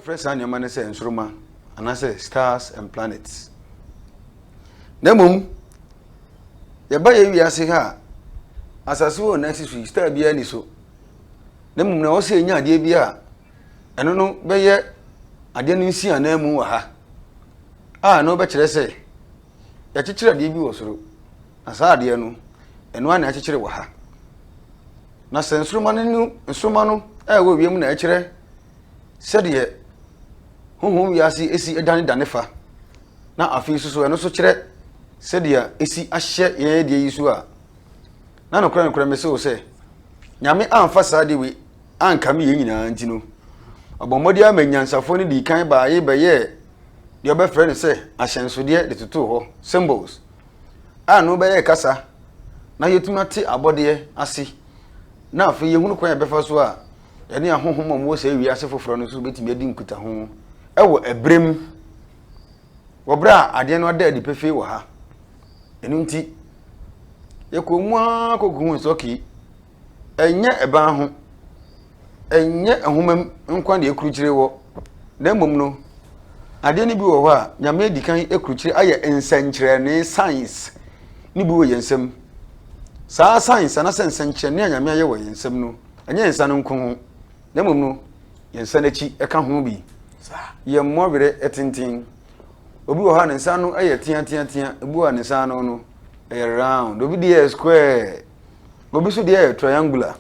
Wɔbɛfrɛ saa nneɛma no sɛ nsoromma anaasɛ stars and planets. Na mmom, yɛba yɛ wiase ha a, asase wɔ na ɛsi so yi, star biara ni so. Na mmom, na ɛwɔ sɛ yɛnya adeɛ bi a ɛno no bɛyɛ adeɛ no nsi anaa mu wɔ ha a na wobɛkyerɛ sɛ yɛakyekyere adeɛ bi wɔ soro. Na saa adeɛ no, ɛno ara na ɛkyekyere wɔ ha. Na sɛ nsoromma no no nsoromma no a ɛwɔ wiem na ɛkyerɛ sɛdeɛ honhom wiase esi danedane fa, na afei nso so ɛno nso kyerɛ sɛdeɛ esi ahyɛ yɛn adeɛ yi so a, na nokorɛ nokorɛ mese wo sɛ, Nyame amfa saa adeɛ wei ankame yɛn nyinaa nti no, ɔbɔ mmɔden ama anyansafoɔ no dii kan baae bɛyɛɛ deɛ ɔbɛfrɛ no sɛ ahyɛnsodeɛ de totoo hɔ, symbols, a no bɛyɛ kasa na yɛtumi ate abɔdeɛ ase na afei yɛhunu kwan a yɛbɛfa so a yɛne ahonhom a wɔwɔ saa wiase foforɔ no so bɛtumi adi nkutaho wɔ ɛberɛ mu wɔ berɛ a adeɛ no ada adi pefee wɔ ha ɛno nti yɛkɔ mu ara kɔkɔhu sɛ okay Ɛnyɛ ban ho, ɛnyɛ nwoma mu nko na ɛkrukyire wɔ, na mmom no, adeɛ no bi wɔ hɔ a Nyame adi kan akrukyire ayɛ nsɛnkyerɛnne, signs, no bi wɔ yɛn nsam. Saa signs anasɛ nsɛnkyerɛnne a Nyame ayɛ wɔ yɛn nsam no, ɛnyɛ yɛn nsa no nko ho, na mmom no, yɛn nsa no akyi ɛka ho bi. Yɛn mmɔ werɛ tenten. Obi wɔ hɔ a ne nsa no yɛ teateatea, ebi wɔ hɔ a ne nsa no no ɛyɛ round, obi deɛ yɛ square. Obi nso deɛ yɛ triangular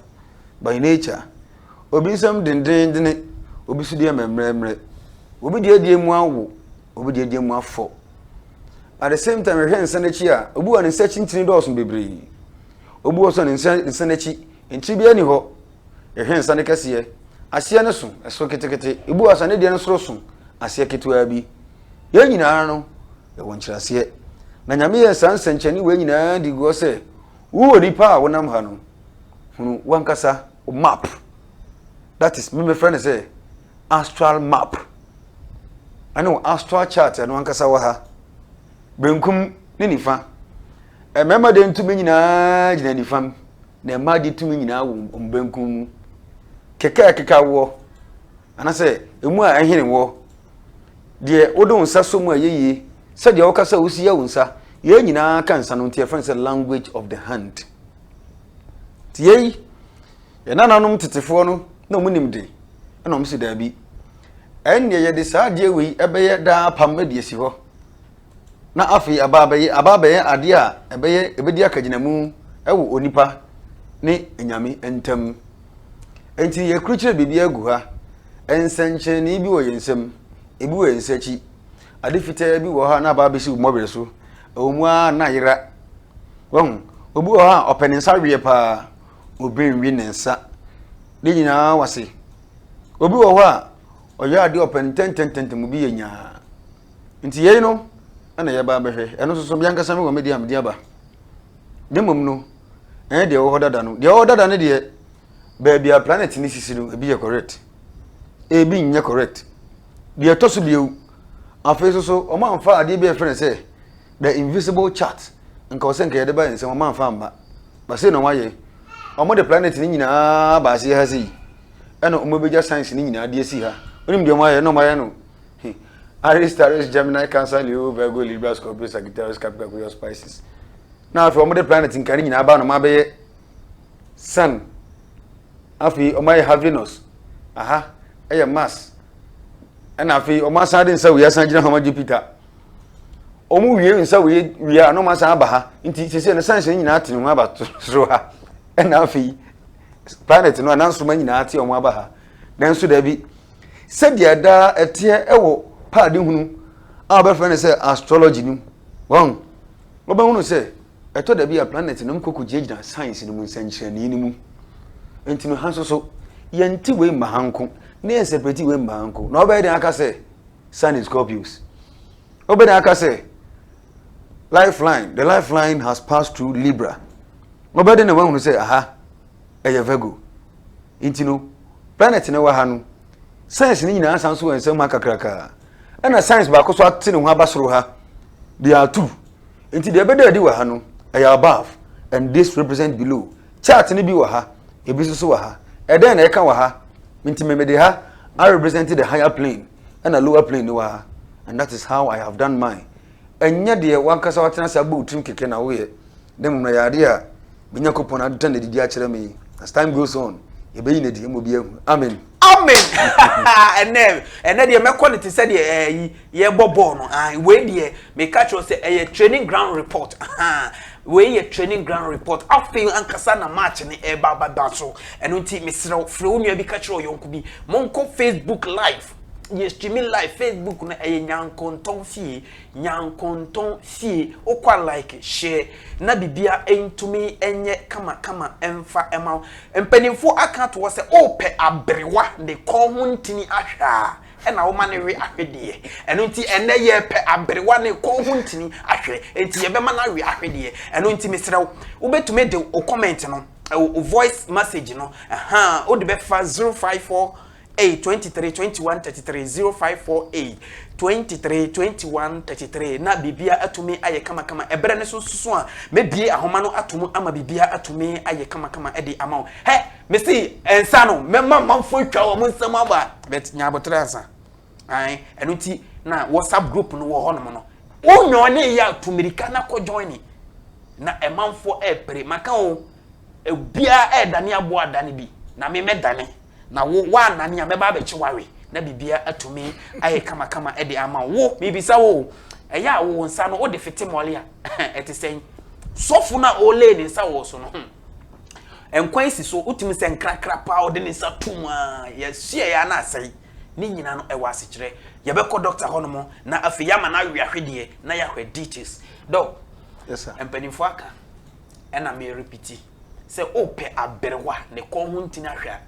by nature. Obi nsam dendenndene, obi nso deɛ mɛmrɛmrɛ. Obi deɛ deɛ mu awo, obi deɛ deɛ mu afɔ. At the same time, yɛhwɛ nsa n'akyi a, obi wɔ ne nsa akyi ntini dɔɔso bebree. Obi wɔ so a ne nsa nsa n'akyi ntini biara ni hɔ, Yɛhwɛ nsa no kɛseɛ, aseɛ no so, ɛso ketekete. Ebu asa ne deɛ no soro so, aseɛ ketewaa bi. Yɛn nyinaa no, yɛwɔ nkyerɛaseɛ. Na Nyame yɛɛ saa nsɛnkyɛnne wei nyinaa de guɔ sɛ, wo onipa a wonam ha no, hunu wankasa wo map. That is, me mefrɛ no sɛ astral map. Ɛne wo astral chart ɛno ankasa wɔ ha. Benkum ne nifa. Mmarima deɛ ntu me nyinaa gyina nifam. Na mma agye tumi nyinaa wɔ wɔn benkum mu. Kɛkɛ a ɛkeka woɔ, anaasɛ emu a ɛhene woɔ, deɛ wode wo nsa sɔ mu a ɛyɛ yie, sɛdeɛ woka sɛ wosia wo nsa, yei nyinaa ka nsa no nti yɛfrɛ no sɛ language of the hand. Nti yei, yɛn nananom tetefoɔ no na wɔn nim de, ɛna wɔn si daabi. Ɛnneɛ yɛde saa adeɛ wei ɛbɛyɛ daa apam de asi hɔ. na afei aba abɛyɛ aba abɛyɛ adeɛ a ɛbɛyɛ ɛbɛdi akagyinamu wɔ onipa ne nyame ntam. Enti yɛkrukyerɛ biribi agu ha, nsɛnkyerɛnee bi wɔ yɛn nsam, ebi wɔ yɛn nsa akyi, ade fitaa bi wɔ ha na aba abɛsi wo mmɔwerɛ so, ɛwɔ mu ara na yera. Wahu, obi wɔ ha a ɔpɛ ne nsa weɛ paa, obɛnwi ne nsa ne nyinaa wase. Obi wɔ hɔ a ɔyɛ adeɛ ɔpɛ ntɛntɛntɛntɛm obi yɛ nyaa. Nti yei no na yɛba abɛhwɛ. Ɛno nso so, me ankasa mewɔ me deɛ a mede aba. Ne mmom no, ɛnyɛ deɛ ɛwɔ hɔ dada no. Deɛ ɛwɔ hɔ dada no deɛ, baabi a planet no sisi no, ebi yɛ correct. Ebi nyɛ correct. Deɛ ɛtɔ so bio, afei nso so, wɔamfa adeɛ bi a yɛfrɛ no sɛ the invisible chart. Nka wɔ sɛ nka yɛde ba yɛn nsam, wɔamfa amma. Ba sei na wɔayɛ. Wɔde planet no nyinaa ba aseɛ ha sei. Ɛna wɔbɛgya science no nyinaa de asi ha. Wonim deɛ wɔayɛ? Ɛna wɔayɛ no Aries, Taurus, Gemini, Cancer, Leo, Virgo, Libra, Scorpio, Sagittarius, Capricorn, Aquarius, Pisces. Na afei wɔn de planet nka ne nyinaa aba na wɔn abɛyɛ Sun. Afei wɔn ayɛ ha Venus, aha ɛyɛ Mars. Ɛna afei wɔn asan de nsa wei asan gyina hama Jupiter. Wɔn wie nsa wei wie a na wɔn asan aba ha. Nti sese no science ne nyinaa te ne ho aba soro ha. Ɛna afei planet no anansoma nyinaa te wɔn aba ha. Nanso dabi, sɛdeɛ daa ɛteɛ wɔ paadehunu a wɔbɛfrɛ no sɛ astrology no mu. Wɔn, wɔbɛhunu sɛ ɛtɔ dabi a planɛt nom kɔ kɔgyinagyina science no mu nsɛnkyerɛnee no mu. Nti no ha nso so, yɛnte wei mma ha nko, na yɛnsɛprɛti wei mma ha nko, na wobɛyɛ dɛn aka sɛ Sun in Scorpios? Wobɛyɛ dɛn aka sɛ lifeline, the lifeline has passed through Libra? Wobɛyɛ dɛn na woahunu sɛ aha, ɛyɛ Virgo. Nti no, planet no wɔ ha no, signs no nyinaa san so wɔ nsam ha kakrakaa. Ɛna signs baako so ate ne ho aba soro ha, de atu. Nti deɛ ɛbɛda adi wɔ ha no, ɛyɛ above, and this represent below. Chart no bi wɔ ha, ebi nso so wɔ ha. Ɛdɛn na ɛka wɔ ha? Nti memede ha I represent the higher plane, ɛna lower plane no wɔ ha. And that is how I have done mine. Ɛnyɛ deɛ w'ankasa w'atena ase abɔ wo tirim kɛkɛ na woyɛ, na mmom na ɛyɛ adeɛ a me Nyankopɔn ada no adidi akyerɛ me. As time goes on, yɛbɛyi no adi, ɛma obi ahu. Amen. Amen. Ɛnɛ, ɛnɛ deɛ mɛkɔ no te sɛ deɛ ɛyi yɛbɔ bɔɔl no. Ah, wei deɛ meka kyerɛ sɛ ɛyɛ training ground report. Ah, wei yɛ training ground report. Afei ankasa na match ne ɛba baba so. Ɛno nti mesrɛ wo, frɛ wo nua bi ka kyerɛ ɔyɔnko bi. Monkɔ Facebook live. yɛ streaming live facebook no ɛyɛ nyankontɔn fie nyankontɔn fie okwa like share na bibia ntumi ɛnyɛ kama kama ɛnfa ɛma mpanimfoɔ aka to sɛ ɔpɛ abrewa ne kɔn ho ntini ahwɛ a ɛna wɔma ne we ahwedeɛ ɛno nti ɛnɛ yɛpɛ abrewa ne kɔn ho ntini ahwɛ nti yɛbɛma no awe ahwedeɛ ɛno nti mesrɛ wo wobɛtumi de o comment no o voice message no ɛha wode bɛfa 054 Ei, twenty three, twenty one, thirty three, zero five four eight, twenty three, twenty one, thirty three, na biribiara atumi ayɛ kamakama. Ɛberɛ no so susu a, mɛbue ahoma no ato mu ama biribiara atumi ayɛ kamakama de ama wo. Hɛ! Mese nsa no, mɛma amanfoɔ atwa wɔn nsam aba. But nya aboterɛ ansa. Ae, ɛno nti na WhatsApp group no wɔ hɔnom no. Wo nyɔɔnee yɛ a, tu mmirika na kɔ joine. Na amanfoɔ ɛrepere. Maka o, obiara ɛredane aboa adane bi, na me mɛdane. na wo woanane a mɛba abɛkye wawe na biribiara atumi ayɛ kamakama de ama wo mebisa wo ɛyɛ a wo nsa no wode fete mmɔle a ɛte sɛn sɔfo no a ɔlee ne nsa wɔ so no hmm. nkwan si so wotumi sɛ nkrakra paa ɔde ne nsa tom a yɛhyeɛ yɛ ana asɛe ne nyinaa no ɛwɔ asekyerɛ yɛbɛkɔ dɔkta hɔnom na afei yɛama no awe ahwedeɛ na yɛahwɛ details dɔ mpanimfoɔ aka ɛna merepiti Sɛ worepɛ aberewa a ne kɔn ho ntini ahwɛ a,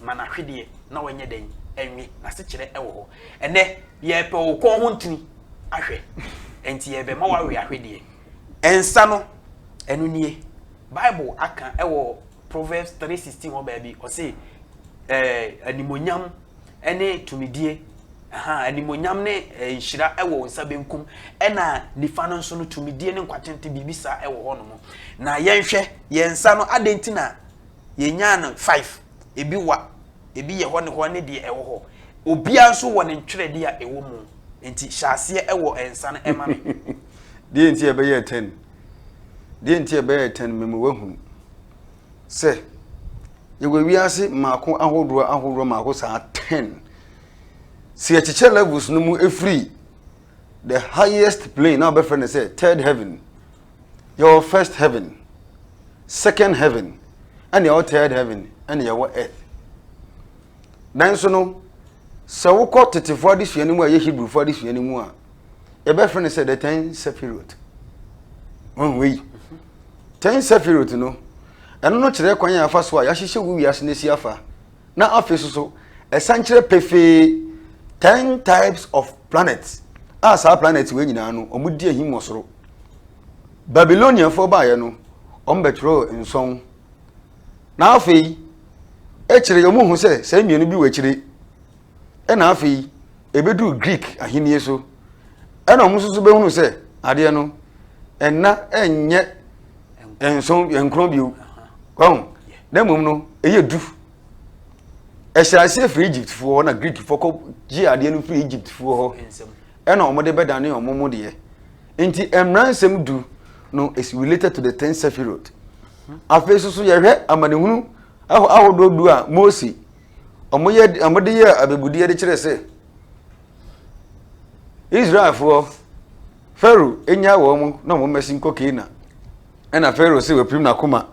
ma no ahwedeɛ na ɔnyɛ dɛn? Ɛnwe. N'asekyerɛ wɔ hɔ. Ɛnnɛ, yɛrepɛ wo kɔn ho ntini ahwɛ, enti yɛrebɛma woawe ahwedeɛ. Nsa no, ɛno nie. Bible aka wɔ Proverbs three sixteen hɔ baabi, ɔse, ɛɛ, animuonyam ne tumidie, aha, animonyam ne eh, nhyira wɔ nsa benkum, ɛna nifa no nso no tumidie ne nkwatente biribi saa wɔ hɔ nom. Na yɛnhwɛ yɛn nsa no adɛn nti na yɛnyaa no five, ebi wa, ebi yɛ hɔ ne hɔ ne deɛ ɛwɔ hɔ. Obiara nso wɔ ne ntwerɛdeɛ a ɛwɔ mu. Nti hyɛ aseɛ wɔ nsa no ɛma me. deɛ nti ɛbɛyɛ ten deɛ nti ɛbɛyɛ ten memu wahunu. sɛ yɛwɔ wiase mmaako ahodoɔ ahodoɔ mmaako saa ten sɛ yɛkyekyɛ levels no mu ɛfiri the highest plane na wɔbɛfrɛ no sɛ third heaven yɛwɔ first heaven second heaven ɛne yɛwɔ third heaven ɛne yɛwɔ earth nanso no sɛ wokɔ tetefoɔ adesua no mu a ɛyɛ hebrewfoɔ adesua no mu a yɛbɛfrɛ no sɛ the ten sephirot ɔnwei Ten Sefirot no, ɛno no kyerɛ kwan a ɛfa so a yɛahyehyɛ wo wiase no asi afa, na afei so so ɛsan kyerɛ pefee ten types of planets a saa planets wei nyinaa no wɔn di ahim wɔ soro. Babyloniafoɔ baeɛ no, wɔn bɛtwerɛɛ nson, na afei akyire yɛn mu hu sɛ saa mmienu bi wɔ akyire Ɛnna afei ɛbɛduruu Greek ahennie so. Ɛnna wɔn nso so bɛhunu sɛ adeɛ no ɛnna ɛnyɛ nson nkron bio wahu na mmom no ɛyɛ du ɛhyɛ aseɛ firi egyptfoɔ hɔ na greekfoɔ kɔ gye adeɛ no firi egyptfoɔ hɔ ɛna wɔn de bɛdane wɔn mu deɛ nti mmeransɛm du no is related to the ten sephirot afei soso yɛhwɛ amanehunu ahodoɔ du a mose wɔyɛ wɔde yɛ abebudeɛ de kyerɛ sɛ israelfoɔ pharaoh nya wɔn mu na wɔn mmɛsi nkɔ keena ɛna pharaoh sɛ wɔapirim n'akoma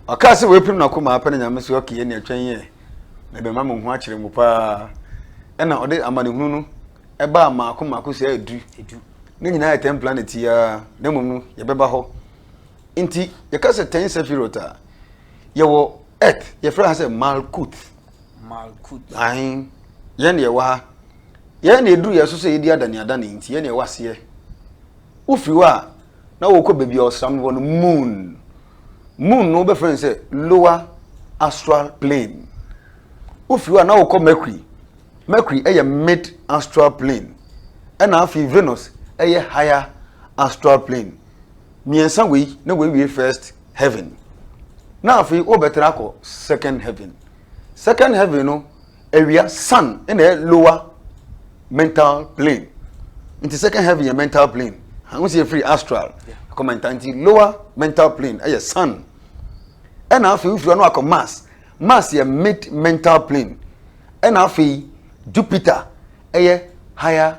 ɔkaa sɛ wɔapirim n'akoma apɛ ne nyame sɛ ɔkeyɛ ne atwɛn yɛ na ɛbɛma mo ho akyerɛ mu paa ɛna ɔde amanehunu no ɛbaa mmaako mmaako sɛ adu ne nyinaa yɛ ten planet yia na mmom no yɛbɛba hɔ nti yɛka sɛ ten sefirot a yɛwɔ earth yɛfrɛ ha sɛ malkut malkut ahen yɛn deɛ wɔ ha yɛn na ɛduru yɛ so sɛ yɛdi adaneadane nti yɛn na ɛwɔ aseɛ wofiri hɔ a na wɔkɔ baabi a ɔsram no wɔ no moon moon no wobɛfrɛ no sɛ lower astral plane wofiri hɔ a na wɔkɔ mercury mercury ɛyɛ mid astral plane ɛna afei venus ɛyɛ higher astral plane mmiɛnsa wei na wɔawie first heaven na afei wobɛtena akɔ second heaven second heaven no awia sun na ɛyɛ lower mental plane nti second heaven yɛ mental plane ho si efiri astral ɛkɔ mental nti lower mental plane ɛyɛ sun ɛna afei wofiri hɔ no akɔ mars mars yɛ mid mental plane ɛna afei jupiter ɛyɛ higher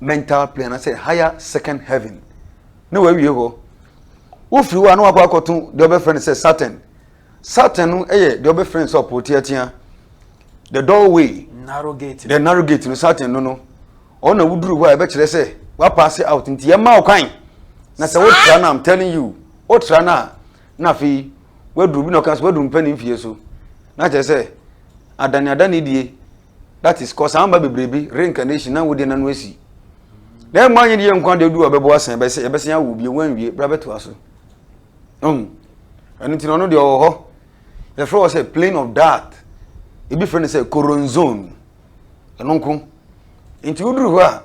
mental plane anaasɛ higher second heaven na wawie hɔ wofiri hɔ a na wakɔ akɔto deɛ ɔbɛfrɛ no sɛ saturn saturn no yɛ deɛ ɔbɛfrɛ no sɛ ɔpoo teatea the doorway narrow gate the narrow gate no saturn no no ɔna woduru hɔ a ɛbɛkyerɛ sɛ wapaase out nti yɛma wo kwan na sɛ wotra no am telling you wotra no a na afei waduru bi na ɔka sɛ waduru mpɛ ne mfie so na kyerɛ sɛ adane adane die that is cause amba bebree bi reincarnation na wode nano asi na ɛma nyɛ deɛ nkwa deɛ du a bɛbɔ asan bɛsɛ yɛbɛsɛn awo bie wanwie bra bɛtoa so hmm. ɛno nti na ɔno deɛ ɔwɔ hɔ yɛfrɛ wɔ sɛ plane of dart ebi frɛ no sɛ coronzone ɛno nko nti woduru hɔ a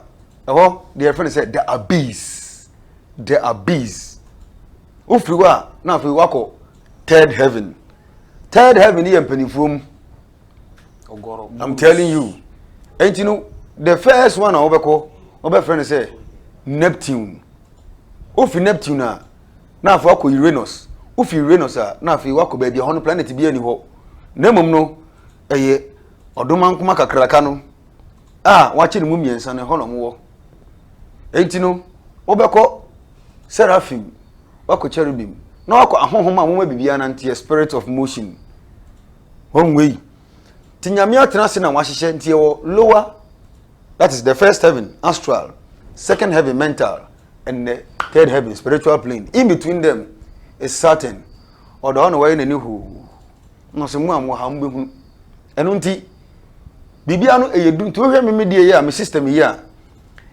ɛhɔ deɛ yɛfrɛ no sɛ the abyss the abyss wofiri hɔ a na afei wakɔ third heaven third heaven yɛ mpanimfoɔ mu i'm telling you nti no the first one a wɔbɛkɔ wɔbɛfrɛ no sɛ neptune wofi neptune a na afei wakɔ uranus wofi uranus a na afei wakɔ baabi a hɔ no planet bi ani hɔ na mmom no ɛyɛ ɔdomankoma kakraka no a wakye ne mu mmiɛnsa no hɔ na wɔwɔ nti no wɔbɛkɔ seraphim wakɔ cherubim na wakɔ ahohom a wɔn abibi ananteɛ spirit of motion Wɔn wei. Ti nyame atena ase na wahyehyɛ nti ɛwɔ lower that is the first heaven astral second heaven mental and the third heaven spiritual plane in between them is certain ɔda hɔ na wɔyɛ n'ani hoo na ɔsɛ mu a mo ha mo bɛhunu ɛno nti biribia no ɛyɛ du nti wohwɛ me medie yi a me system yi a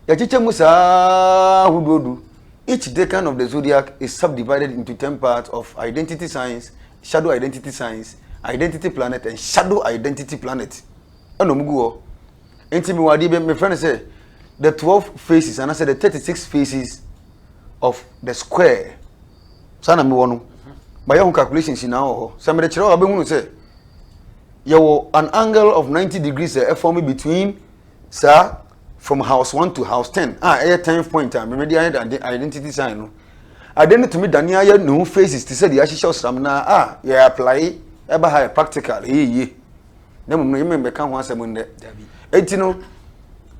yɛkyekyɛ mu saa hodoɔdu each decan of the zodiac is subdivided into ten parts of identity science Shadow Identity Signs, Identity Planet and Shadow Identity Planet ɛna wɔn gu hɔ. Nti mi wɔ adeɛ bi mefrɛ no sɛ the twelve faces anaasɛ the thirty six faces of the square. Saa na mi wɔ no. Mayɛ ho calculations nyinaa wɔ hɔ. Sɛ mede kyerɛ wɔ abɛhunu sɛ yɛwɔ an angle of ninety degrees a ɛfɔm between saa from house one to house ten a ɛyɛ tenth point a mmemme de ayɛ dade identity sign no ade no tumi dane ayɛ ne ho faces te sɛ deɛ ahyehyɛ ɔsram na a yɛ apply ɛba ha yɛ practical ɛyɛ yie na mmom no yɛ mmemme ka ho asɛm ndɛ eti no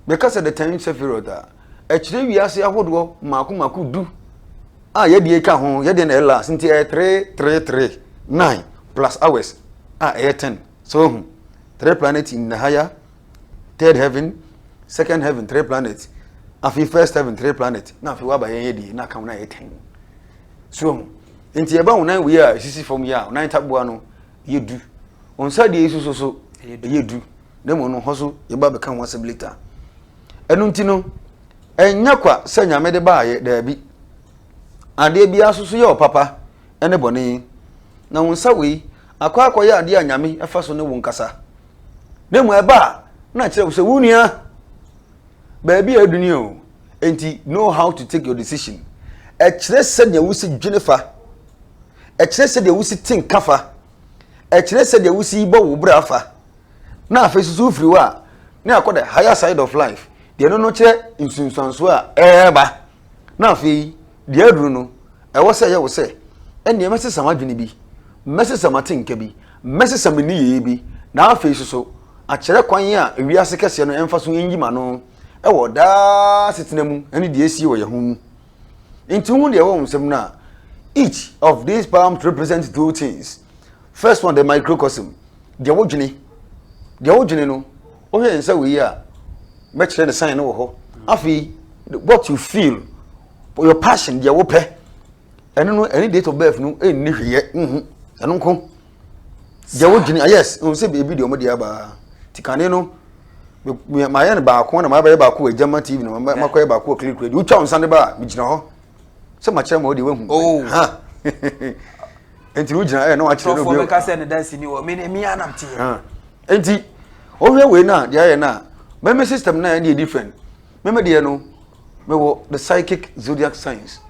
bɛka sɛ the ten sephirot a ɛkyerɛ wiase ahodoɔ mako mako du a yɛdeɛ ka ho yɛdeɛ na ɛla nti ɛyɛ three three three nine plus hours a ɛyɛ ten so ho three planet in nahaya third heaven second heaven three planet afei first heaven three planet na afei waba yɛn yɛ die na aka ho na yɛ ten so ho nti ɛba ho nan wei a esisi fam yi a ho nan taboa no yɛ du ho nsa deɛ esu so so ɛyɛ du na mu no hɔ so yɛba bɛka ho asɛm later ɛno nti no ɛnyɛ kwa sɛ nyame de baayɛ daabi adeɛ biara so so yɛ ɔpapa ɛne bɔne na ho nsa wei akɔ akɔyɛ adeɛ a nyame ɛfa so ne wo nkasa. na mmom ɛba a na kyerɛ wo sɛ wo nua baabi a aduni o nti know how to take your decision ɛkyerɛ sɛdeɛ wosi dwene fa ɛkyerɛ sɛdeɛ wosi te nka fa ɛkyerɛ sɛdeɛ wosi bɔ wo bra fa na afei soso wofiri hɔ a ne akɔ the higher side of life deɛ no no kyerɛ nsunsuansoɔ a ɛreba na afei Deɛ aduru no, ɛwɔ sɛ ɛyɛ wo sɛ, Ɛnneɛ mɛsesa m'adwene bi, mɛsesa m'atenka bi, mɛsesa me nneyɛeɛ bi, na afei nso so, akyerɛ kwan a wiase kɛseɛ no mfa so nyi m'ano wɔ daa asetena mu ne deɛ asie wɔ yɛn ho mu. Enti wohu deɛ ɛwɔ wo nsam no a, Each of these palms represents two things. First one, the microcosm, deɛ wodwene. Deɛ wodwene no, Wohwɛ nsa wei a, mɛkyerɛ ne sign no wɔ hɔ. Afei, what you feel, your passion, deɛ wopɛ, ɛno no, ɛne date of birth no ɛnni hweyɛ, nhu, ɛno nko. Deɛ wodwene, ah, yes, ɛhu sɛ baabi deɛ ɔmɔde abaa. Ti kane no, mayɛ no baako na mabɛyɛ baako wɔ agyama TV na makɔyɛ baako wɔ Click Radio. Wotwa wo nsa no ba a, megyina hɔ. Sɛ makyerɛ ma wo deɛ wahu. Oh. Ha. Nti no wogyina ɛyɛ na wakyerɛ no obi. Sɔfoɔ bɛka sɛ ne dansini wɔ, me anam teɛ. Enti, wohwɛ wei no a, deɛ ayɛ no a, meme system no a ɛne different. Meme deɛ no, mewɔ the psychic zodiac signs.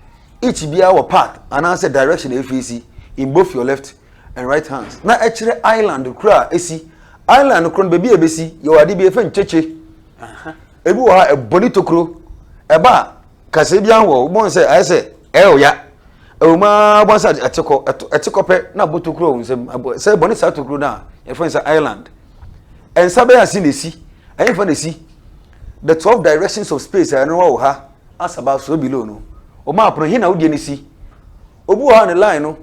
Each biara wɔ path anaasɛ direction a ɛfeesi in both your left and right hands. Na ɛkyerɛ island koro a ɛsi. Island koro no, baabi a ɛbɛsi, yɛwɔ ade bi yɛfɛ nkyekye. Ebi wɔ hɔ a, ɛbɔ ne tokuro. Ɛba a, Kaseɛ biara wɔ wobɔn sɛ ayɛ sɛ ɛyɛ ɔya. Ɛwɔ mu ara wobɔn sɛ ɛte kɔ ɛte kɔ pɛ na abɔ tokuro wɔ nsam sɛ ɛbɔ ne saa tokuro no a yɛfrɛ no sɛ island. Nsa bɛyɛ ase na esi ɛyɛ nfa na esi the twelve directions of space a ɛno wɔ ha asaba so below no wɔ map no he na wodeɛ no si. Obi wɔ ha ne line no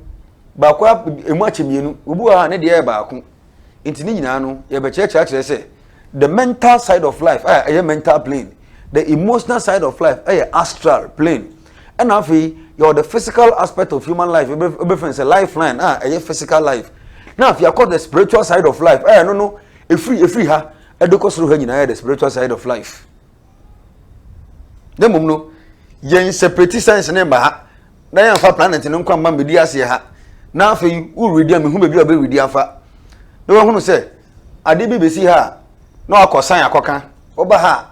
baako emu akyɛ mmienu obi wɔ ha ne deɛ yɛ baako. nti ne nyinaa no yɛbɛkyerɛkyerɛ akyerɛ sɛ the mental side of life a ɛyɛ mental plane the emotional side of life ɛyɛ astral plane ɛna afei yɛwɔ the physical aspect of human life ɛbɛfɛn sɛ lifeline a ɛyɛ physical life na afei akɔ the spiritual side of life ɛyɛ no no ɛfiri ɛfiri ha ɛde kɔ soro ha nyinaa yɛ the spiritual side of life. na mmom no yɛn separate science ne mba ha na yɛn fa planet no nkwa mma mmedi aseɛ ha na afei woredi a mehu baabi a wobɛredi afa na wahunu sɛ ade bi bɛsi ha a na wakɔ san akɔka woba ha a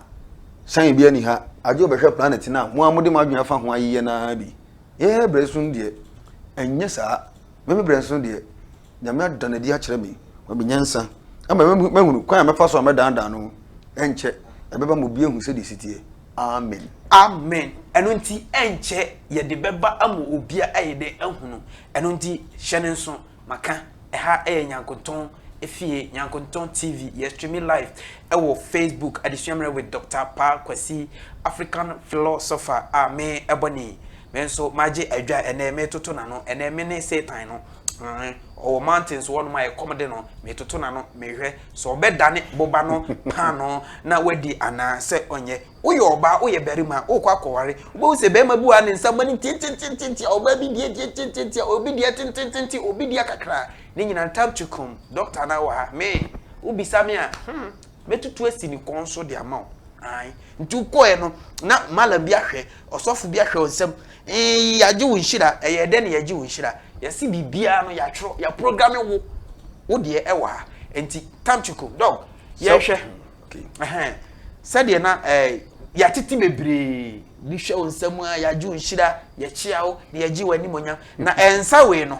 san bi ani ha agye wobɛhwɛ planet no a mo a mode mo adwene afa ho ayeyɛ no ara bi yɛyɛ berɛ so deɛ ɛnyɛ saa meme berɛ so deɛ Nyame ada no adi akyerɛ me, wama me nyansa ama mahunu kwan a mɛfa so a mɛdaadaa no ho. Ɛnkyɛ, ɛbɛba ma obi ahu sɛdeɛ ɛsi teɛ. Amen. Amen. Ɛno nti, ɛnkyɛ yɛde bɛba ama obi a ɛyɛ dɛ ahunu. Ɛno nti, hyɛ no nso. Maka, ɛha yɛ Nyankontɔn fie, Nyankontɔn TV. Yɛ streami live wɔ Facebook, Adesua Mmerɛ with Doctor Paa Kwasi, African Philosopher a me bɔ ne. Me nso magye adwa ɛnnɛ, metoto n'ano. Ɛnnɛ, me ne Satan no. Ae, ɔwɔ mountains hɔnom a ɛkɔm de no, metoto n'ano mehwɛ sɛ ɔbɛdane boba no paanoo na wadi anaa sɛ ɔnyɛ. Woyɛ ɔbaa, woyɛ barima, wokɔ akɔware, wobɛhu sɛ barima bi wɔ ha ne nsa bɔne ntiantiantiantiantia, ɔbaa bi deɛ ntiantiantiantia, obi deɛ tententente, obi deɛ kakra. Ne nyinaa time to come. Doctor no ara wɔ ha. Me, wobisa me a, hmm. Mɛtutu asi ne kɔn so de ama wo. Ae. Nti wokɔɛ no, na malam bi ahwɛ, ɔsɔfo bi ahwɛ wo nsam. Eeii, yɛagye wo nhyira. Ɛyɛɛ dɛn na yɛagye wo nhyira? Yɛase biribiara no, yɛatwerɛ, yɛaprograme wo. Wo deɛ ɛwɔ ha. Nti, Tamchico, Dɔg, yɛnhwɛ. Ɛhɛn. Sɛdeɛ na ɛɛ, yɛatete bebree. Bi hwɛ wo nsam a, yɛagye wo nhyira, yɛkyea wo, na yɛgye wo animuonyam. Na ɛnsa wei no.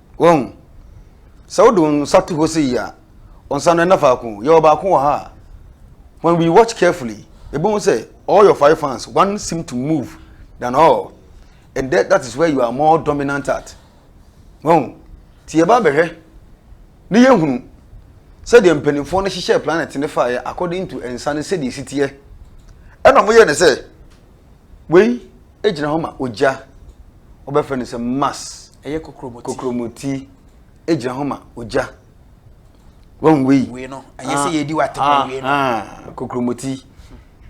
Wahu? Sɛ wode wo nsa to hɔ sei a, wo nsa no ɛnna faako. Yɛwɔ baako wɔ ha a, when we watch carefully, yɛbɛhu sɛ all your five hands, one seem to move than all. And that, that is where you are more dominant at. Wahu? Nti yɛba bɛhwɛ ne yɛhunu sɛdeɛ mpanimfoɔ no hyehyɛ planet no faeɛ according to nsa no sɛdeɛ ɛsi teɛ. Ɛna wɔyɛ ne sɛ, Wei gyina hɔ ma ogya. Wɔbɛfrɛ no sɛ mas. Ɛyɛ kokromoti. Kokromoti gyina hɔ ma ogya. Wɔn wei. Wei no, ɛyɛ sɛ ah, yɛdi wa tɛmɛ ah, wei no. Ah, kokromoti.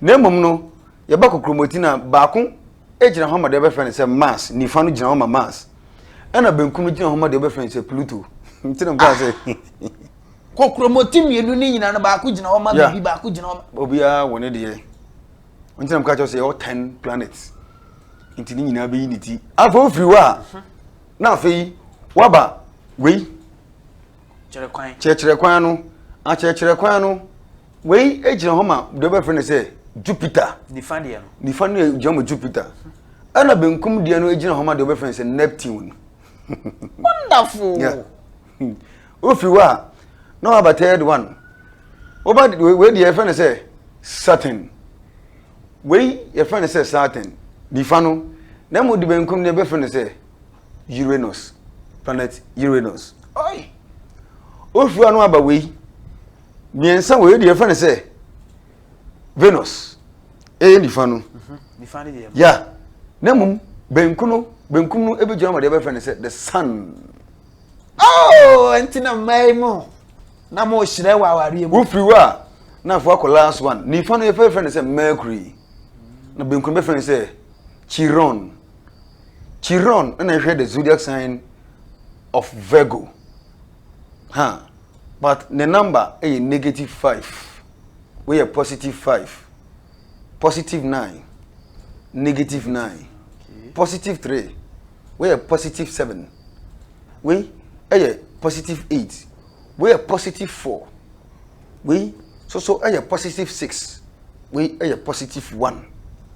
Na mmom no, yɛba kokromoti na baako gyina hɔ ma deɛ wɔbɛfrɛ no sɛ mas. Nifa no gyina hɔ ma mas. Ɛna benkum no gyina hɔ ma deɛ wɔbɛfrɛ no sɛ pluto. Nti na mo kaa sɛ. Kokromoti mmienu ne nyinaa no baako gyina hɔ ma biribi baako gyina hɔ ma. Obiara wɔ ne deɛ. Wɔn ti na mo ka kyerɛ sɛ yɛwɔ ten planets. Nti ne nyinaa bɛyi ne ti. Afei ofiri hɔ a, na afei waba wei. Kyerɛ kwan. Kyerɛkyerɛ kwan no. Akyerɛkyerɛ kwan no. Wei gyina hɔ ma deɛ wɔbɛfrɛ no sɛ Jupiter. Nifa deɛ no. Nifa no gyina ma Jupiter. Ɛna benkum deɛ no gyina hɔ ma deɛ wɔbɛfrɛ no sɛ Neptune. Wonderful. Yeah. Hmm. Wofiri hɔ a, na waba third one. Woba wei deɛ yɛfɛ no sɛ Saturn. Wei yɛfɛ no sɛ Saturn. Nifa no. Na mu di benkum deɛ bɛfɛ no sɛ Uranus. Planet Uranus. Oi! Wofiri hɔ a na waba wei. Mmiɛnsa wei deɛ yɛfɛ no sɛ Venus. Ɛyɛ nifa no. Mhm. Nifa no deɛ. Ya. Na mu benkum no benkum no ebi gyina ma deɛ bɛfɛ no sɛ the sun. Oh, ɛnti na mmaa yi mu na mo hyerɛ wɔ awareɛ mu. Wofiri hɔ a na afɔ akɔ last one nifa no yɛfɛ fɛ no sɛ mercury na benkum bɛfɛ no sɛ chiron chiron na ɛhwɛ the zodiac sign of virgo ha huh. but ne number ɛyɛ negative five woyɛ positive five positive nine negative nine positive three. wei yɛ positive seven wei yɛ positive eight wei yɛ positive four wei soso yɛ positive six wei yɛ positive one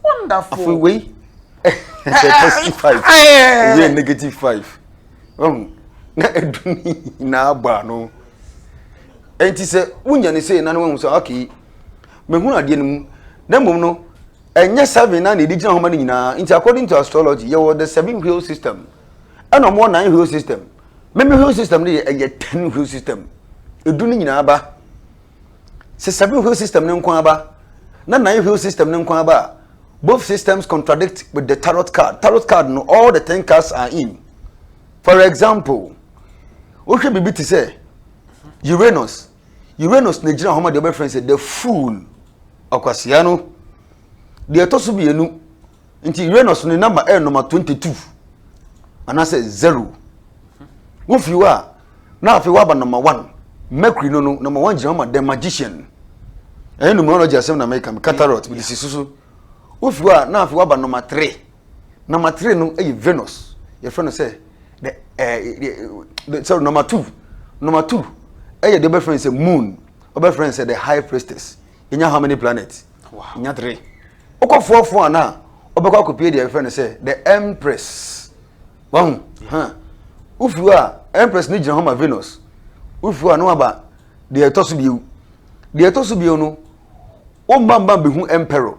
wonderful afei wei yɛ positive five wei yɛ negative five ɔn na edu ne nyinaa bɔ ano nti sɛ wonya ne sɛ na ne wɔn sɛ okay mehunu adeɛ no mu na mmom no. Ɛnyɛ seven na na ɛde gyina hɔ ma no nyinaa. Nti according to astrology, yɛwɔ the seven wheel system. Ɛna wɔwɔ nine wheel system. Meme wheel system no yɛ ɛyɛ ten wheel system. Edu no nyinaa ba. Sɛ seven wheel system no nko aba na nine wheel system no nko aba a, both systems contradict with the tarot card. Tarot card no all the ten cards are in. For example, wohwɛ biribi te sɛ Uranus, Uranus na gyina hɔ ma deɛ wɔbɛfrɛ no sɛ the fool ɔkwasea no deɛ ɛtɔ so mmienu nti Uranus ne namba ɛyɛ nɔma twenty two anaasɛ zero wofi hɔ a na afei waba nɔma one Mercury no no nɔma one gyina hɔ ma the magician ɛyɛ numerology asɛm na mɛka katarot mede si so so wofi hɔ a na afei waba nɔma three. Number three no yɛ Venus. Yɛfrɛ no sɛ the ɛɛ sorry number two number two ɛyɛ deɛ ɔbɛfrɛ no sɛ moon ɔbɛfrɛ no sɛ the high priestess. Yɛnya how many planets? Yɛnya three. Wokɔ four four ana ɔbɛkɔ akɔpie deɛ yɛfrɛ no sɛ the empress. Wahu? Huh. Wofiri hɔ a empress no gyina hɔ ma Venus. Wofiri hɔ a na waba deɛ ɛtɔ so bio. Deɛ ɛtɔ so bio no Wo mbambam behu Emperor,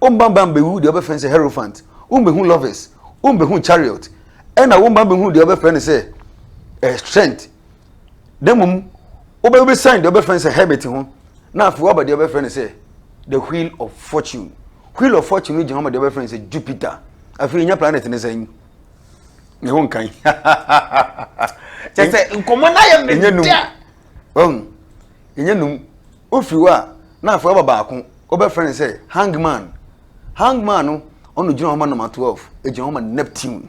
wo mbambam behu deɛ wɔbɛfrɛ no sɛ Hierophant, wombehu Lovers, wombehu Chariot, ɛna wo mbambam behu deɛ wɔbɛfrɛ no sɛ eh, Strength. Na mmom wobɛsan deɛ wɔbɛfrɛ no sɛ Hermit ho, na afei woaba deɛ wɔbɛfrɛ no sɛ The Wheel of Fortune. Wheel of Fortune no gyina hɔ ma deɛ wɔbɛfrɛ no sɛ Jupiter. Afei nya planet ne sɛn? ne ho nkan kyɛ sɛ nkɔmmɔ no ayɛ me dɛ yɛnyɛ nnum. Wofiri hɔ a, na afei ɔba baako, wɔbɛfrɛ no sɛ hangman. Hangman no, ɔno gyina hɔ ma nɔma 12, ɛgyina hɔ ma Neptune.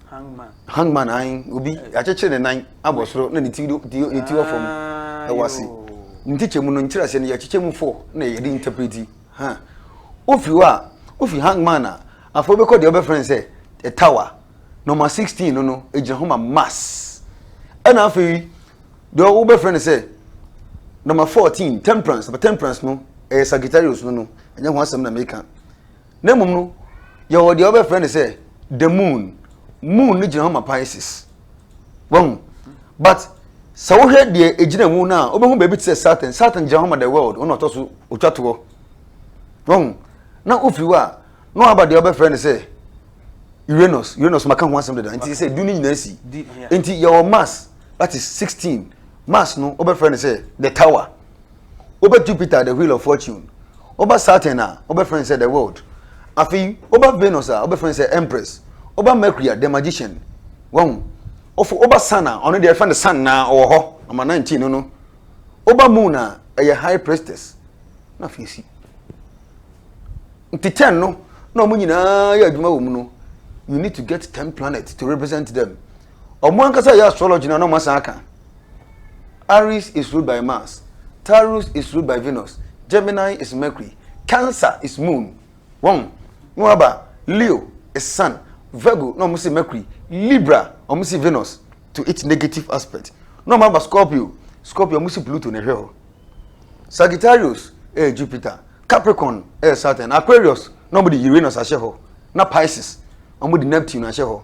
Hangman. Hangman ayi obi akyekyere ne nan abɔ soro na ne ti do ne ti wɔ fam ah, ɛwɔ ase. Ne ti kyɛ mu no nkyerɛ ase no yɛkyekyɛ mu fo na yɛde interpreti. Ha. Ofiri hɔ a, ofi hangman a afɔ bɛkɔ deɛ ɔbɛfrɛ no sɛ a tower. nɔma sixteen no no egyina hɔ ma mass ɛna afei deɛ wobɛfrɛ no sɛ nɔma fourteen temperance nɔma temperance no ɛyɛ sagittarius no no ɛnyɛ ho asɛm na meka na mmom no yɛwɔ deɛ wobɛfrɛ no sɛ the moon moon no gyina hɔ ma pisces wɔn but sɛ wohwɛ deɛ egyina mu no a wobɛhu baabi te sɛ saturn saturn gyina hɔ ma the world ɔna ɔtɔ so otwa toɔ wɔn na ofiri hɔ a na waba deɛ wɔbɛfrɛ no sɛ uranus uranus maka ho asɛm dada nti sɛ du no nyinaa si nti yɛwɔ mars that is sixteen mars no wɔbɛfrɛ no sɛ the tower wɔbɛ jupiter the wheel of fortune wɔbɛ saturn a wɔbɛfrɛ no sɛ the world afei wɔbɛ venus a wɔbɛfrɛ no sɛ empress wɔbɛ mercury a the magician wɔn wɔfo wɔbɛ sun a ɔno deɛ ɛfɛ no sun na ɔwɔ hɔ ɔma nineteen no no wɔbɛ moon a ɛyɛ high priestess na afei si. nti ten no na wɔn nyinaa yɛ adwuma wɔ mu no you need to get ten planet to represent them wɔn ankasa yɛ astrology na wɔn asan aka aries is ruled by mars taurus is ruled by venus gemini is mercury cancer is moon wɔn na wɔn aba leo is sun virgo na wɔn si mercury libra wɔn si venus to its negative aspect na wɔn aba scorpio scorpio wɔn si pluto na ɛhwɛ hɔ. Sagittarius yɛ Jupiter, Capricorn yɛ Saturn, Aquarius na wɔde Uranus ahyɛ hɔ, na Pisces wɔde Neptune ahyɛ hɔ.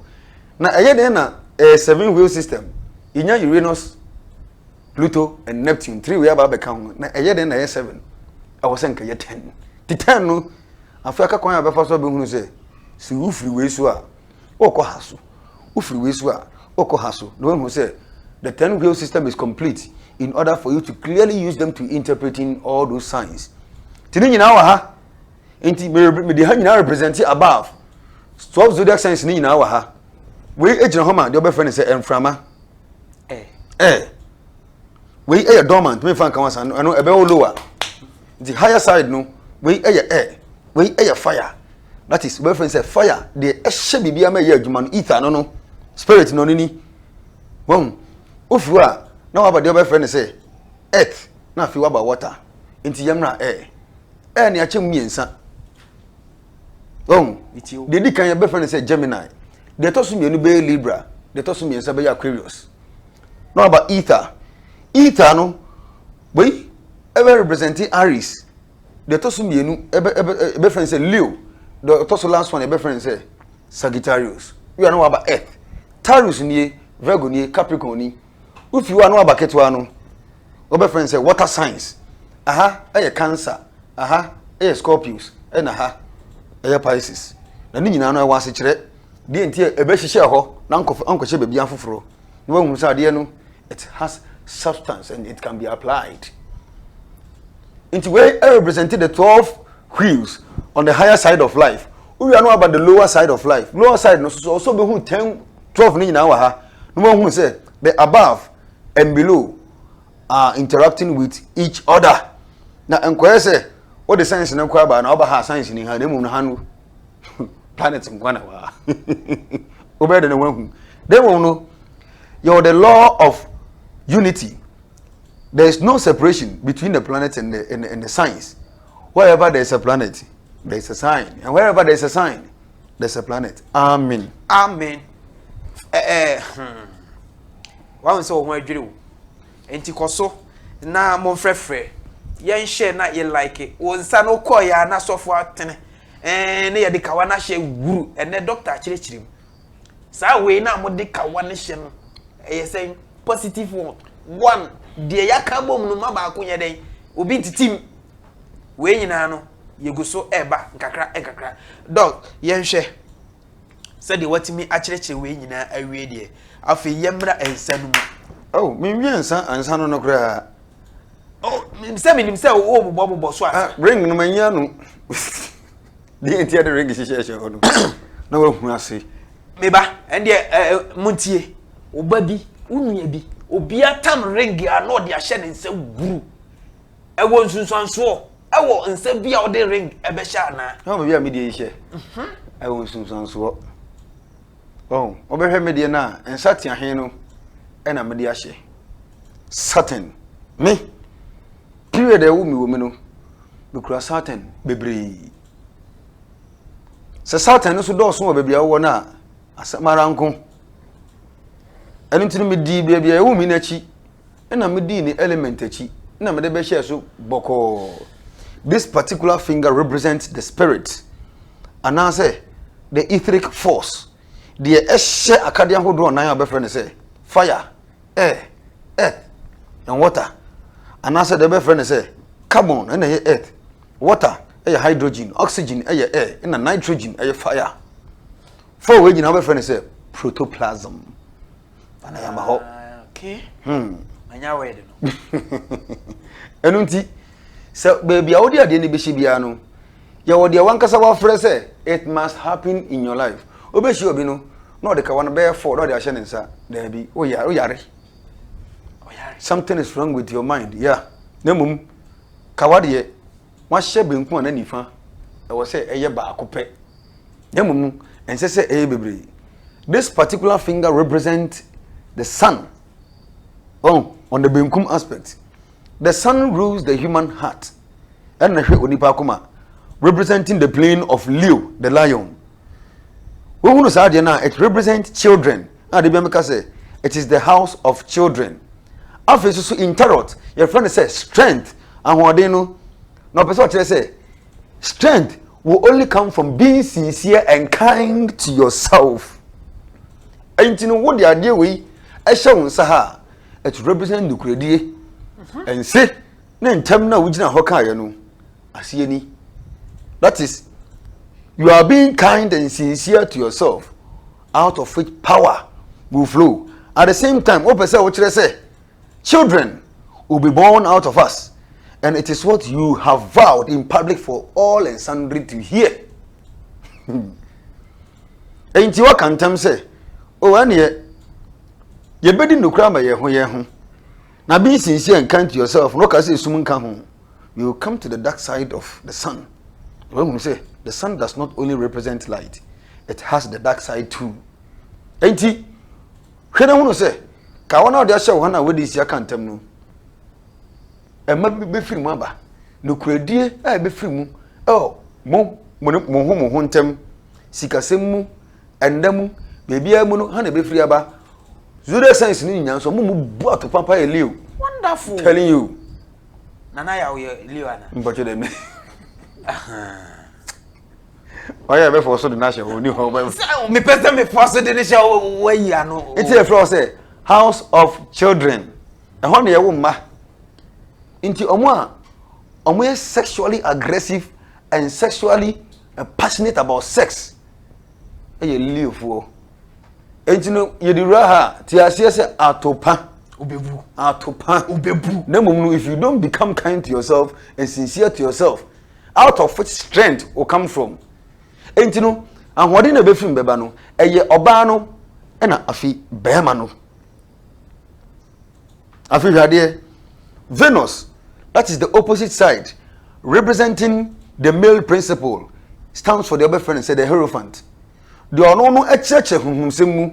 Na ɛyɛ dɛn na ɛyɛ seven wheel system? Yɛnya Uranus, Pluto and Neptune three wei aba abɛka ho na ɛyɛ dɛn na ɛyɛ seven? Ɛwɔ sɛ nka yɛ ten. Ti ten no afei aka kwan a bɛfa so abɛhunu sɛ sɛ wofiri wei so a Wokɔ ha so, wofiri wei so a, wokɔ ha so, na woahu sɛ the ten wheel system is complete in order for you to clearly use them to interpreting all those signs. Ti ne nyinaa wɔ ha. Nti mede ha nyinaa represent above. Twelve zodiac signs ne nyinaa wɔ ha. Wei gyina hɔ ma deɛ wɔbɛfrɛ no sɛ mframa. Ɛɛ. Eh. Eh. Wei yɛ dormant, mefa nka wasa no, ɛno ɛbɛwɔ lower. Nti higher side no, wei yɛ air, wei yɛ fire, that is wobɛfrɛ no sɛ fire deɛ ɛhyɛ biribiara ma ɛyɛ adwuma no ether no no spirit no no ni wɔn wofi hɔ a na waba deɛ wobɛfrɛ no sɛ earth na afei waba water nti yɛmmra air air ne akyɛ mu mmiɛnsa wɔn deɛ di kan yɛbɛfrɛ no sɛ gemini deɛ ɛtɔ so mmienu bɛyɛ libra deɛ ɛtɔ so mmiɛnsa bɛyɛ aquarius na waba ether ether no wei ɛbɛ represent aries deɛ ɛtɔ so mmienu ɛbɛ ɛbɛ ɛbɛfrɛ no sɛ leo deɛ ɔtɔ so last one ɛbɛfrɛ no sɛ sagittarius wei a na waba earth taurus nie virgo nie capricorn ni wofi hɔ a na waba ketewa no wɔbɛfrɛ no sɛ water signs aha ɛyɛ cancer aha ɛyɛ scorpius ɛna ha ɛyɛ pisces na ne nyinaa no ɛwɔ asekyerɛ deɛ nti a ɛbɛhyehyɛ hɔ na nkɔf- ankɔhyɛ baabi afoforɔ na wahunu sɛ adeɛ no it has substance and it can be applied nti wei represent the twelve wheels on the higher side of life wowia no aba the lower side of life lower side no soso ɔsɔ bɛ hu ten twelve ne nyinaa wɔ ha na wɔn hu sɛ the above and below are interacting with each other na nkɔyɛ sɛ wɔde science no kɔ aba na ɔba ha science ni ha na emu no ha no. planet nkwa na waa wobɛyɛ dɛ na wahu dɛ wɔn no yɛwɔ the law of unity there is no separation between the planet and the and, and the signs wherever there is a planet there is a sign and wherever there is a sign there is a planet amen. amen. Eh, eh, hmm. wɔn sɛ wɔn adwiri wo. Enti kɔ so na mo nfrɛfrɛ yɛn hyɛ na yɛ like wo nsa no kɔ yɛ na sɔfo atene ɛɛ ne yɛde kawa no ahyɛ wuru ɛnɛ dɔkta akyerɛkyerɛ mu saa wei na mo de kawa no hyɛ no ɛyɛ sɛn positive one one deɛ yɛaka bom no ma baako nyɛ dɛn obi ntitim wei nyinaa no yɛgu so ɛɛba nkakra nkakra dɔk yɛnhwɛ Sɛdeɛ woatumi akyerɛkyerɛ wei nyinaa awie deɛ, afei yɛmmra nsa no mu. Oh, menwie nsa ansa no no koraa. Oh, sɛ menim sɛ wobobɔbobɔ so ansa. Ah, ring no manyi ano. Deɛ nti ɛde ring hyehyɛhyɛ hɔ no, na wahu ase. Meba, ɛndeɛ montie, wo ba bi, wo nua bi, obia tam ring a na ɔde ahyɛ ne nsa wuru. Ɛwɔ nsunsuansoɔ ɛwɔ nsa bi a wɔde ring ɛbɛhyɛ anaa. Ɛwɔ baabi a mi deɛ nhyɛ. Mhm. Ɛwɔ nsunsuansoɔ. Ɔn wɔbɛhwɛ mi deɛ na nsa tiahen no ɛna mi de ahyɛ. Satin mi period a ɛwɔ mi wɔ mi no mi kura satin bebree. Sɛ satin no so dɔɔso wɔ baabi a wɔwɔ no a asɛm ara nko. Ɛno nti no mi di baabi a ɛwɔ mi n'akyi. na medii ne element akyi na mede bɛhyɛɛ so bɔkɔɔ this particular finger represent the spirit anaasɛ the etheric force deɛ ɛhyɛ akadeɛ ahodoɔ nan a bɛfrɛ no sɛ fire air earth and water anaasɛ deɛ bɛfrɛ no sɛ carbon ɛna ɛyɛ earth water ɛyɛ hydrogen oxygen ɛyɛ air ɛna nitrogen ɛyɛ fire four wei nyinaa bɛfrɛ no sɛ protoplasm fa na yɛma hɔ manya wɛde no ɛno nti sɛ baabi a wode adeɛ no bɛhyɛ biara no yɛwɔ deɛ wankasa wafrɛ sɛ it must happen in your life wobɛhyia obi no na ɔde kawa no bɛyɛ fɔ na ɔde ahyɛ ne nsa daabi woyare something is wrong with your mind yeah na mmom kawa deɛ wɔahyɛ benkum anaa nifa, ɛwɔ sɛ ɛyɛ baako pɛ. Na mmom no, ɛnsɛ sɛ ɛyɛ bebree. This particular finger represents the sun. Oh, on the benkum aspect. The sun rules the human heart. Ɛna hwɛ onipa akoma representing the plane of Leo, the lion. Wohunu saa adeɛ no a, it represents children. Na da biara meka sɛ it is the house of children. Afei nso so in tarot yɛfrɛ no sɛ strength ahoɔden no na ɔpɛ sɛ ɔkyerɛ sɛ strength will only come from being sincere and kind to yourself. Ɛnti no wo de adeɛ wei ɛhyɛ wo nsa ha a it represent nukuredie. Ɛnse. ne ntɛm no a wogyina hɔ kaeɛ no aseɛ ni that is you are being kind and sincere to yourself out of which power will flow at the same time wopɛ sɛ wokyerɛ sɛ children will be born out of us and it is what you have vowed in public for all and sundry to hear enti waka ntam sɛ o ɛneɛ yɛbɛdi nnokora ma yɛn ho yɛn ho Na be sincere and kind to yourself na ɔka sɛ esum nka ho, you will come to the dark side of the sun. Na wahunu sɛ the sun does not only represent light, it has the dark side too. Enti, hwɛ na hunu sɛ ka wɔn a wɔde ahyɛ wo ha na wɔde nsi aka ntam no, ɛma bi bɛfiri mu aba. Nokorɛdie a ɛbɛfiri mu ɛwɔ mo mo ho mo ho ntam sikasɛm mu Ɛnda mu, baabiara mu no, ha na ɛbɛfiri aba. Zodiac signs no nyinaa nso, ɔmo mu bu ato papa yɛ Leo. Wonderful. Telling you. Nana yɛ ɔyɛ Leo ana? Mpɔtɔ dɛ mi. Ɔyɛ ɛbɛ fɔ so de n'ahyɛ hɔ ni hɔ bɛ. Sɛ mi pɛ sɛ mi fɔ so de ne hyɛ hɔ wɔ yi ano. Eti efra wɔ sɛ house of children ɛhɔ na yɛ wo mma nti ɔmo a ɔmo yɛ sexually aggressive and sexually passionate about sex ɛyɛ leofoɔ enti no yɛde wura ha te aseɛ sɛ atopa obebu atopa obebu na mmom no if you don't become kind to yourself and sincere to yourself out of which strength will come from enti no ahoɔden na ɛbɛfiri mbɛba no ɛyɛ ɔbaa no ɛna afi bɛrima no Afei hwɛ adeɛ. Venus, that is the opposite side, representing the male principle, stands for the other friend, said the Hierophant. The ono no ekyerɛkyerɛ honhomsɛm mu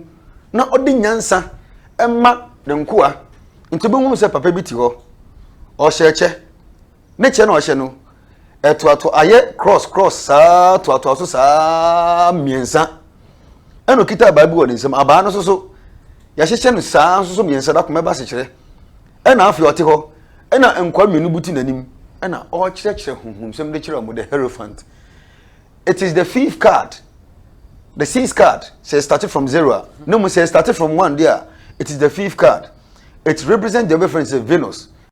na ɔde nyansa ɛma ne nkoa. Nti wobɛhunu sɛ papa bi te hɔ, ɔhyɛ kyɛ. ne kyɛ na ɔhyɛ no ɛtoatoa ayɛ cross cross saa toatoa so saa mmiɛnsa ɛna okita abaa bi wɔ ne nsam abaa no soso yɛahyehyɛ no saa soso mmiɛnsa dako mɛba sekyerɛ ɛna afei ɔte hɔ ɛna nkwa mmienu buti n'anim ɛna ɔrekyerɛkyerɛ huhumsɛm de kyerɛ wɔn the hierophant it is the fifth card the sixth card sɛ so start from zero a ne mu sɛ start from one deɛ it is the fifth card it represent the reference of venus.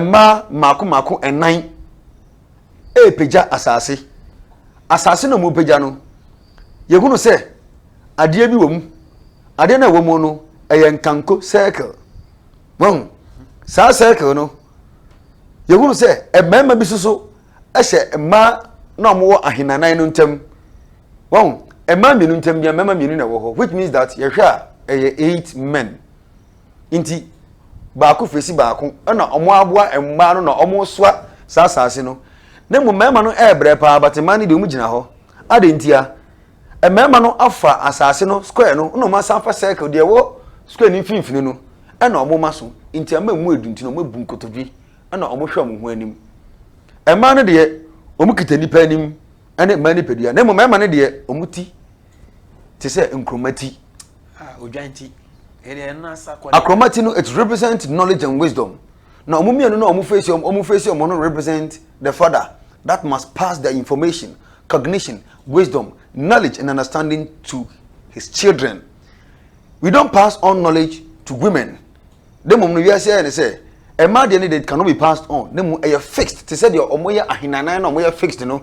mmaa mmaako mmaako nnan repagya asase. Asase na wɔpagya no, yɛhunu sɛ adeɛ bi wɔ mu. Adeɛ no a ɛwɔ mu no, ɛyɛ nkanko circle. Wɔn saa circle no, yɛhunu sɛ mmarima bi soso hyɛ mmaa na wɔwɔ ahenanan no ntam. Wɔn mmaa mmienu ntam bia mmarima mmienu na ɛwɔ hɔ which means that yɛhwɛ a ɛyɛ eight men. nti baako fesi baako na ɔmo aboa mmaa no na ɔmo soa saa asaase no na mmom mmarima no ɛɛbrɛ paa but mmaa no deɛ ɔmo gyina hɔ adɛn ntia mmarima no afa asaase no square no na ɔmo asan fa circle deɛ ɛwɔ square no mfimfini no ɛna ɔmo ma so nti ama emu edu nti na ɔmo abu nkotodwe ɛna ɔmo hwɛ ɔmo ho anim mmaa no deɛ ɔmo kita nipa anim ɛne mmaa nipadua na mmom mmarima no deɛ ɔmo ti te sɛ nkuruma ti. Akorɔma ti no it represent knowledge and wisdom na wɔn mmienu no a wɔn face wɔn wɔn face wɔn no represent the father that must pass the information cognition wisdom knowledge and understanding to his children we don pass on knowledge to women de mmom no wiase ayɛ ne sɛ ɛmaa deɛ ne de cannot be passed on ne mu ɛyɛ fixed te sɛ deɛ wɔn yɛ ahenanan na wɔn yɛ fixed no.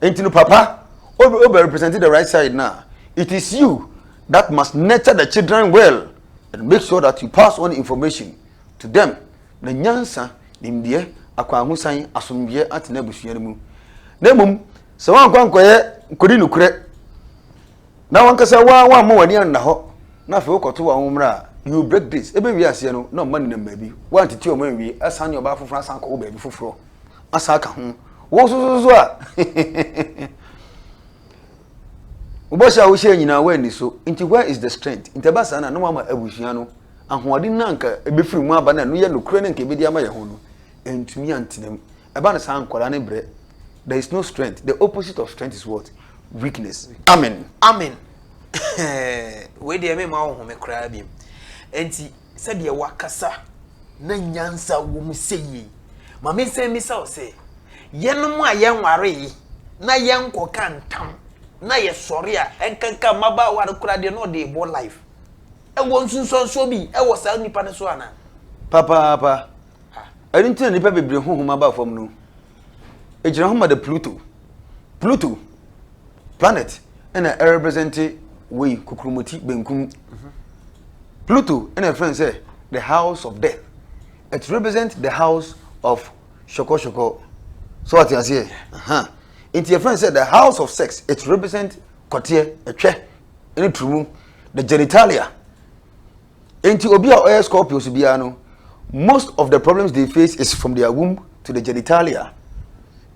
nti no papa o bɛ represent the right side na it is you that must nurture the children well and make sure that you pass on information to them na nyansa nimdeɛ akwanhosan asomdweɛ atena abusua no mu na mmom sɛ wɔn akɔ nkɔyɛ nkɔdi nokorɛ na wɔn kasa wɔn wɔn ama wɔn ani anna hɔ na afei wɔkɔto wɔn mmerɛ a you break this ebe wie aseɛ no na ɔma nenam baabi wɔn atete wɔn anwie asan ne ɔbaa foforɔ asan kɔ wɔ baabi foforɔ. asa aka ho wo sososo a wobɔhyɛ a wohyɛ nyinaa woanni so nti where is the strength nti ɛba saa na na wama abusua no ahoɔden no anka ɛbɛfiri mu aba no ɛno yɛ nokorɛ no anka ɛbɛdi ama yɛ ho no ɛntumi antena mu ɛba no saa nkwadaa no brɛ there is no strength the opposite of strength is what weakness amen amen wei deɛ mema wo home koraa biom nti sɛdeɛ woakasa na nyansa wɔ mu sɛ yie yi, ma mensan mmisa wo sɛ, yɛnom a yɛnwaree na yɛnkɔka ntam na yɛsɔre a ɛnkanka mmabaawa no koraa deɛ na ɔde rebɔ life, ɛwɔ nsunsuansoɔ bi wɔ saa nnipa no so anaa? Papaapa. Ɛno nti na nnipa bebree honhom aba fam no. egyina hɔ ma the pluto pluto planet ɛna ɛrepresente wei kokuromoti benkum pluto ɛna ɛfrɛ sɛ the house of death it represent the house of shokoshokoso so ɔte aseɛ nti ɛfrɛ sɛ the house of sex it represent kɔteɛ ɛtwɛ ɛne turumu the genitalia. Enti obi a ɔyɛ Scorpios biara no, most of the problems they face is from their womb to the genitalia.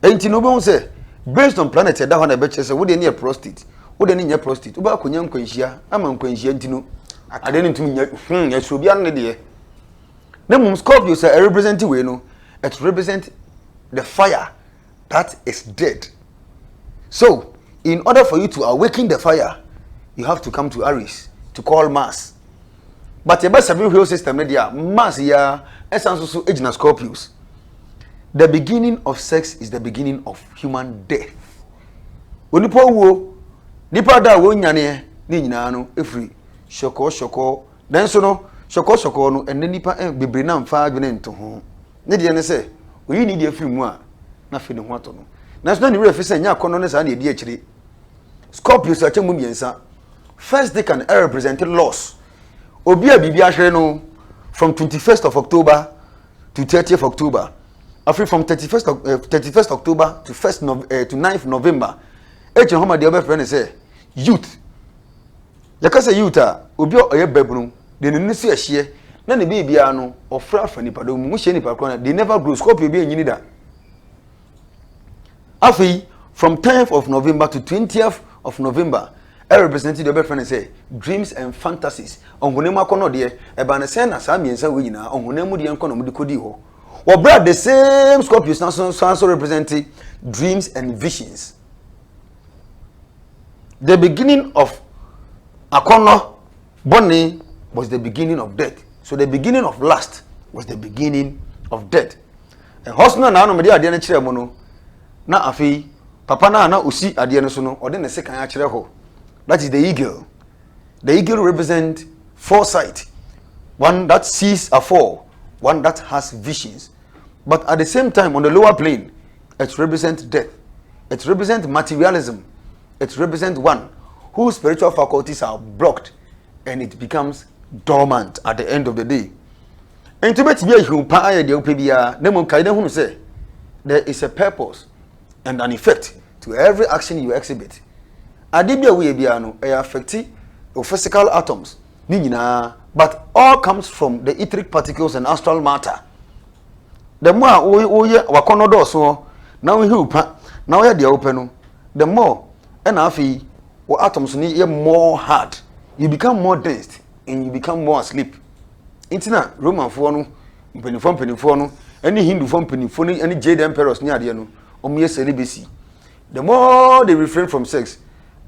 Enti no wobɛhu sɛ based on planet ɛda hɔ na ɛbɛkyerɛ sɛ wodeɛ ne yɛ prostate, wodeɛ ne nyɛ prostate, wobɛ akɔnya nkwanhyia ama nkwanhyia nti no adeɛ no ntumi nyɛ hmm ɛsoro biara ne deɛ. Na mmom Scorpios a ɛrepresent wei no, it represent the fire that is dead so in order for you to awaken the fire you have to come to aries to call mass but yɛbɛ seven wheel system no deɛ mass yɛ ɛsan so so gyina scorpios the beginning of sex is the beginning of human death onipa wuo nipa da a wɔn nyaneɛ ne nyinaa no efiri sɔkɔɔ sɔkɔɔ nanso no sɔkɔɔ sɔkɔɔ no ɛnna nipa bebree na nfa adwene nto ho. Ne deɛ ne sɛ, ɔyi ne deɛ firi mu a, na afei ne ho atɔ no. Nanso na ne werɛ fi sɛ ɛnyɛ akɔnnɔ ne saa na ɛdi akyire. Scorpios akyɛ mu mmiɛnsa. First decan ɛrepresente loss. Obi a biribi ahwere no from 21st of October to 30th October. Afei from 31st, uh, eh, 31st October to, first no, uh, eh, to 9th November. Ɛkyerɛ hɔ ma deɛ wɔbɛfrɛ no sɛ youth Yɛka sɛ youth a, obi a ɔyɛ babunu, deɛ n'ani so yɛ hyeɛ, na ne biribiara no, ɔfra afa nipadɔm mu. Wohyia nipa korɔ no, they never grow. Scorpio bi ɛnyini da. Afei, from 10th of November to 20th of November, ɛ represent deɛ ɔbɛfrɛ no sɛ dreams and fantasies, ɔhonam mu akɔnɔdeɛ. Ɛbaa ne sɛn na saa mmiɛnsa wei nyinaa, ɔhonam mu deɛ nkɔ na wɔde kɔdii hɔ. Wɔ berɛ a the same Scorpios no san so represent dreams and visions. The beginning of akɔnnɔ bɔne was the beginning of death. So the beginning of lust was the beginning of death. Ɛhɔ so na n'anom de adeɛ no kyerɛ mu no, na afei papa no a na osi adeɛ no so no, ɔde ne sekan akyerɛ hɔ. That is the eagle. The eagle represent foresight, one that sees afore, one that has visions. but at the same time on the lower plane it represents death it represents materialism it represents one whose spiritual faculties are blocked and it becomes dormant at the end of the day nti bɛtumi ahiw paa yɛ deɛ wopɛ biara na mmom kae na hunu sɛ there is a purpose and an effect to every action you exhibit ade bi a woyɛ biara no ɛyɛ affecti your physical atoms ne nyinaa but all comes from the etheric particles and astral matter the more a woyɛ wakɔnɔ dɔɔso hɔ na wohew pa na woyɛ deɛ wopɛ no the more ɛna afei wɔ atoms no yɛ more hard you become more dense and you become more asleep nti na romanfoɔ no mpanimfoɔ mpanimfoɔ no ɛne hindufoɔ mpanimfoɔ no ɛne jade emperors ne adeɛ no wɔn yɛ sɛ ne besi. the more they refrain from sex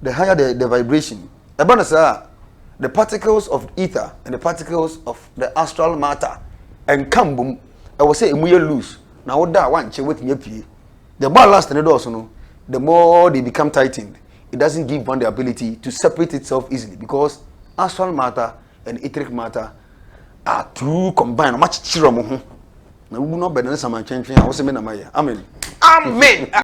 the higher the, the vibration ɛba no saa the particles of ether and the particles of the astral matter ɛnka mbom ɛwɔ sɛ emu yɛ loose na woda a wankyɛ wetumi apue the more last ne dɔɔso no the more they become tightened it doesn't give one the ability to separate itself easily because astral matter and etheric matter are too combined ɔmo akyekyere ɔmo ho na wubu na ɔbɛn ne saman twɛntwɛn a wɔsɛ mi na ma yɛ amen. amen.